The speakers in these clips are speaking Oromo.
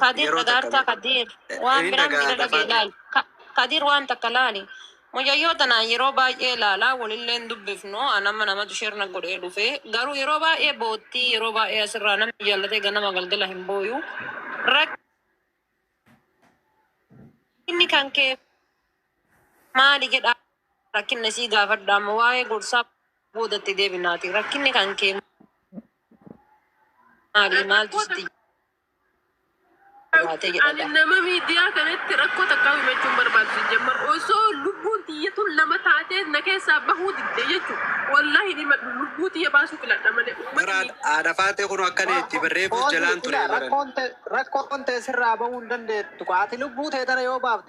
Kadir Yeroo takka dhagaartaa mee- Kadir Eh, waan inni biraan dhagaadha, miidhagee Faadhi. laali. Ka- Kadir waan takka laali. Mucayyoo tanaan yeroo baay'ee ilaalaa walillee hin dubbifnu anama namatu shirna godhee dhufe garuu yeroo baay'ee boottii yeroo baay'ee asirraa namni jaallatee ganama galgala hin booyu. Rakkinni kan kee maali jedhaa rakkinna sii gaafadha amma waa'ee gorsaa boodatti deebinaati rakkinni kan kee Maali maaltu sitti jabaate jedha Ani gaa. nama miidiyaa kanatti rakkoo takkaa himachuu hin barbaadu sijjammar osoo lubbuun tiyya tun lama taatee na keessaa bahuu didde jechu wallahi hin himadhu lubbuu tiyya baasuu filadha malee ummata Baraan miidiyaa haadha faatee kun akkana itti barreebuus Foozii jalaan ture ila baran. rakkoon te- rakkoon tee sirraa bahuu hin dandeettu. Ati lubbuu tee tana yoo baafte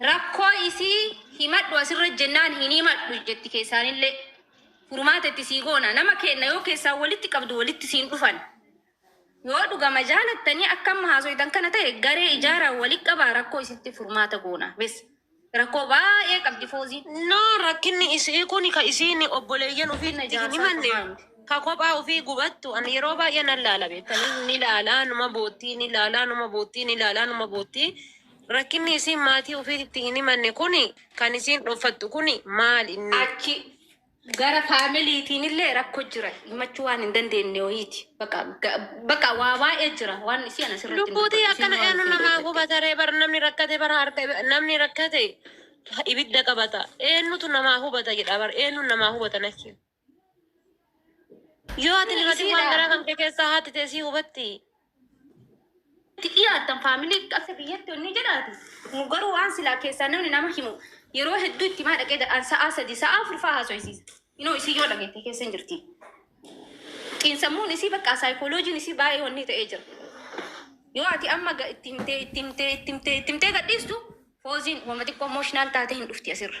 Rakkoo isii himadhu asirra jennaan hin himadhu jetti keessaanillee furmaata itti sii goona nama keenna yoo keessaan walitti qabdu walitti siin dhufan yoo dhugama jaalattanii akka amma haasoytan kana ta'e garee ijaaraa wali qabaa rakkoo isitti furmaata goona bes rakkoo baay'ee qabdi fooziin No rakkinni isii kuni ka isiin obboleeyyan ufii Rakkinna itti hin jaarsaa himanne qofaa miti. ka kophaa ufii gubattu an yeroo baay'ee nan laala beektanii ni laalaa numa boottii ni laalaa numa boottii ni laalaa numa boottii Rakkinni isiin maatii ufiititti hin himanne kuni kan isiin dhoffattu kuni maal inni? Achi gara family tiinillee rakko jira himachuu waan hin dandeenne wayiiti baqa baqa waa baay'ee jira waan isii ana sirratti hin Lubbuu tiyya dubbadhu isiin akkana waan eenu isiin namaa dhoyfatte. gubata ree bar namni rakkate bar harka ibi- namni rakkate ibidda qabata eennutu namaa hubata jedha bar eennuun namaa hubata natti himi. Yoo ati limatin waan garaa kan kee keessaa haati tee sii hubatti. itti dhiyaattan family akka biyyatti onni jedhaati nu garuu waan silaa keessaa namni nama himu yeroo hedduu itti himaa dhaqee dadhaan sa'aa sadii sa'aa afur fa'aa haasoysiisa inoo isii yoo dhageette keessa hin jirti xiinsammuun isii bakka saayikooloojiin isii baay'ee wanni ta'ee jira yoo ati amma ga- itti himtee itti himtee itti himtee itti himtee gadhiistu fooziin wama xiqqoo emotional taatee hin dhufti asirra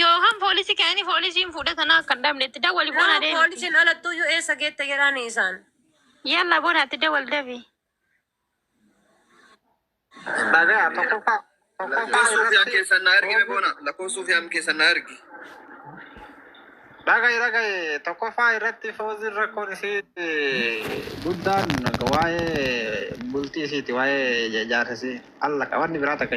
Yookaan poolisii ka'anii poolisiin fuudha tanaa akka hin dhabne itti dawwali boona Nama deemi. poolisiin alattuu iyyuu eessa geette jedhaani isaan. Yalla boona itti dawwali dafi. Dhagaa tokkoffaa tokkoffaa Lakkoofsa suufiyaan irratti keessan na ergi mee boona. Lakkoofsa suufiyaan keessan na ergi. dhaga'i dhaga'i tokkoffaa irratti fooziin rakkoon isii guddaan waa'ee bultii isiiti waa'ee jaarsa isii alla qabanni biraa takka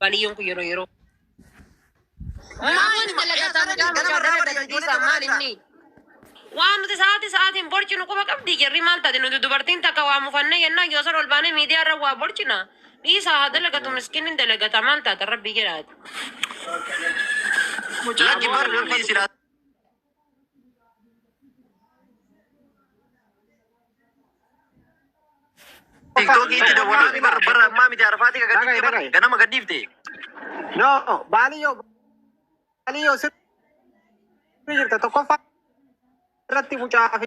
Baliyyoon kun yeroo yeroo. Maaliin dalagataan gaafa gaafana dalagdiisaa maal inni? Waan nuti sa'aatii sa'aatiin borcinu quba qabdi jarri maal taate nuti dubartiin takka waa mufannee yennaa yoo san ol baanee miidiyaa irra waa borcina. Dhiisaa haa dalagatu miskiinni dalagata maal taata rabbii jedhaati. Lakki bar rabbii silaa. Tiktokii itti dawwalaa ni bara bara ammaa miti arfaatii kan gadhiifte bara ganama gadhiifte. No, baaliyyoo baaliyyoo sirrii jirta tokkoffaa irratti mucaa fi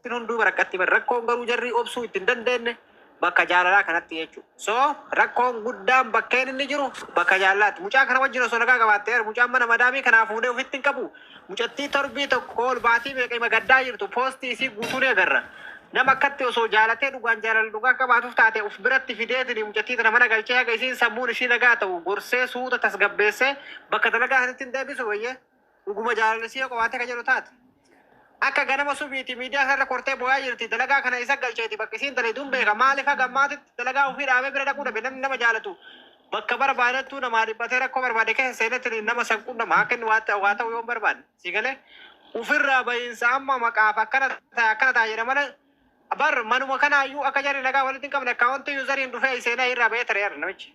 Isin hunduu rakkatti bar. Rakkoon garuu jarri obsuu itti hin dandeenne bakka jaalalaa kanatti jechuudha. So rakkoon guddaan bakkeen inni jiru bakka jaalalaatti. Mucaa kana wajjin osoo nagaa qabaattee bar mucaan mana madaamii kanaa fuudhee ofitti hin qabu. Mucattii torbii tokko ol baatii meeqa ima gaddaa jirtu poostii isii guutuu ni agarra. Nama akkatti osoo jaalatee dhugaan jaalala dhugaa qabaatuuf taate of biratti fideetini mucattii tana mana galchee haga isiin sammuun ishii nagaa ta'u gorsee suuta tasgabbeessee bakka dalagaa sanitti hin deebisu wayyee. Dhuguma jaalalli si'a qofaatti akka jedhu taate. Akka ganama subiiti miidiyaa kanarra kortee booyaa jirti. Dalagaa kana isa galcheeti bakka isiin dalaydun beeka. Maaliif haga ammaatitti dalagaa ofii dhaabee bira dhaquu dhabe namni nama jaalatu. Bakka barbaadattuu namaa dhiphatee rakkoo barbaade keessa seenetti nama san qunnama akka inni waa ta'u waa ta'u yoo hin barbaanne. Si galee ofirraa bahiinsa amma maqaaf akkana ta'a akkana ta'a jedha malee bar manuma kanaayyuu akka jarri nagaa walitti hin qabne akkaawwantii yuuzariin dhufee seenaa irraa bahee tareera namichi.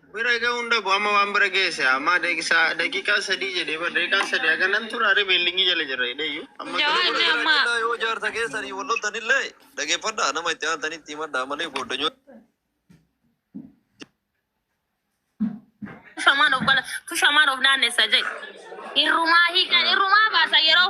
Bira ga'uun dhabu amma waan bira geesse amma deeqisa daqiiqaa sadii jedhee bar daqiiqaa sadii haga nan tura re beellingii jala jirra jedheeyyu amma Jawaar Nama Jamaa. jiraachudhaa yoo jaarsa keessanii wal loltanillee dhageeffadhaa nama itti aantanitti himadhaa malee gooddanyoota Shamaan of bala, tu shamaan of naannessa jedhe. Irrumaa hiikan, irrumaa baasa yeroo